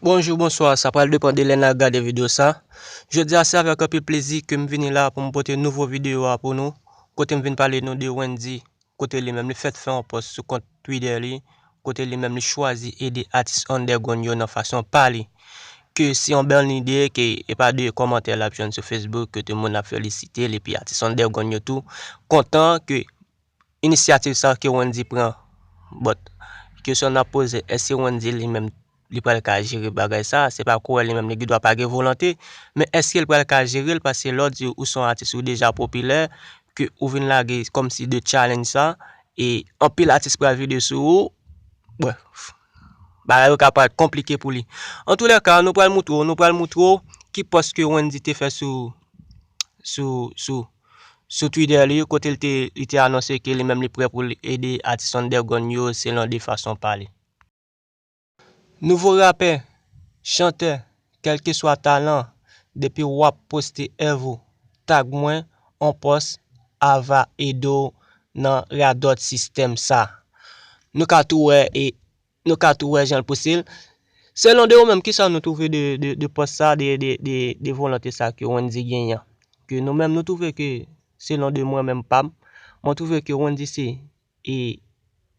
Bonjou, bonswa, sa pral depan de lè nan gade video sa. Jodi a se avèk anpil plezi ke m vini la pou m pote nouvo video a pou nou, kote m vin pale nou de Wendy, kote li menm li fèt fè yon pòs sou kont Twitter li, kote li menm li chwazi ede atis underground yo nan fason pa li. Ke se yon bèl lide ke e pa de kòmantè l ap jwenn sou Facebook kote moun ap felisite l epi atis underground yo tou kontan ke Inisyativ sa ke Wendy pran but kesyon nap poze eske Wendy li menm li pral ka jere bagay sa, se pa kouwè li menm li gendwa pa gen volante men eskel pral ka jerel paske lè w di ou son atis ou deja popilè ke ou vin lage kòm si de challenge sa e anpil atis pral vide sou ou bref bagay yo ka paret konplike pou li antoulèka nou pral moutre w nou pral moutre w ki pòs ke Wendy te fè sou sou sou. sou Twitter li kote li te li te anonse ke li menm li prè pou l ede atis underground yo selon de fason pa li. Nouvo rapè, chantè, kelkeswa talan, depi wap poste èv ou, tag mwen on pòs ava ede w nan radòt sistèm sa. Nou ka tou wè e Nou ka tou wè jan l pouse l. Selon de ou menm kisa nou twouve de pòs sa de volonte sa ke Wendy genyen an. Ke nou menm nou twouve ke selon de mwen menm pa m. Mwen twouve ke Wendy se e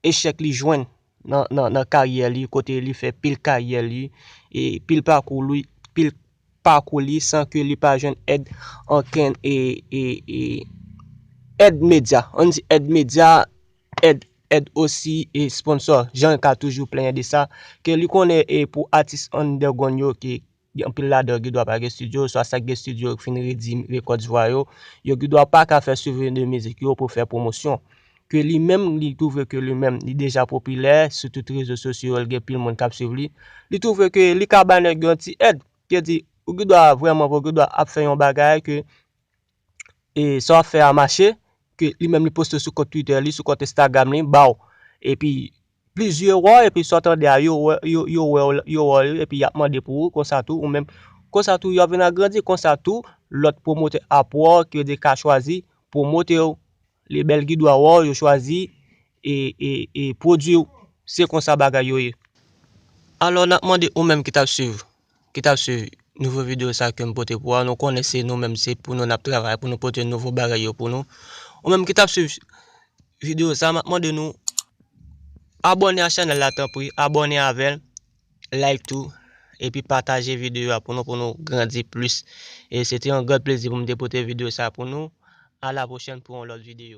echèk li jwenn nan karyè li kote li fè pil karyè li e pil pakou li pil pakou li san ke li pa jwenn èd ankenn e èd medya. An di èd medya. Ed ed osi e sponsor Jean ka toujou plenyen de sa ke li konnen e pou atis underground yo ke anpil ladan yo gidwa pa gen studio oswa sa ki gen studio yo fin redi records vwa yo, yo gidwa pa ka fè swivi de mizik yo pou fè pwomosyon. Ke li menm li twouve ke li menm li deja popilè sou tout rezo sosyo yo li gen pil moun kap swiv li, li twouve ke li ka ba nèg yo yon ti èd, ke di ou gidwa vrèman vre ou gidwa ap fè yon bagay ke e sa wap fè a mache, ke li menm li poste sou kont Twitter li, sou kont Instagram li, ba'w epi plizyè wè w epi sa w tande a yo wè yo, yo wè w, yo wè w epi yap mande pou ou, konsa tou ou menm, konsa tou yap vin agrandi, konsa tou lòt pwomotè ap wè w ke yo te ka chwazi pwomote w. Lebel ki dwa wè w yo chwazi e pwodwi w se konsa bagay yo ye. Alò nap mande ou menm ki tap swiv ki tap swiv nouvo video sa kem pote pou ou a nou konnen se nou menm se pou nou nap travay pou nou pote nouvo bagay yo pou nou ou menm ki tap swiv video sa map mande nou abòne a chanèl la tanpri abòne avèl. like tou epi pataje video a pou nou pou nou grandi plis e se te yon grand plezi pou m te pote video sa pou nou a la pwochèn pou yon lòt video.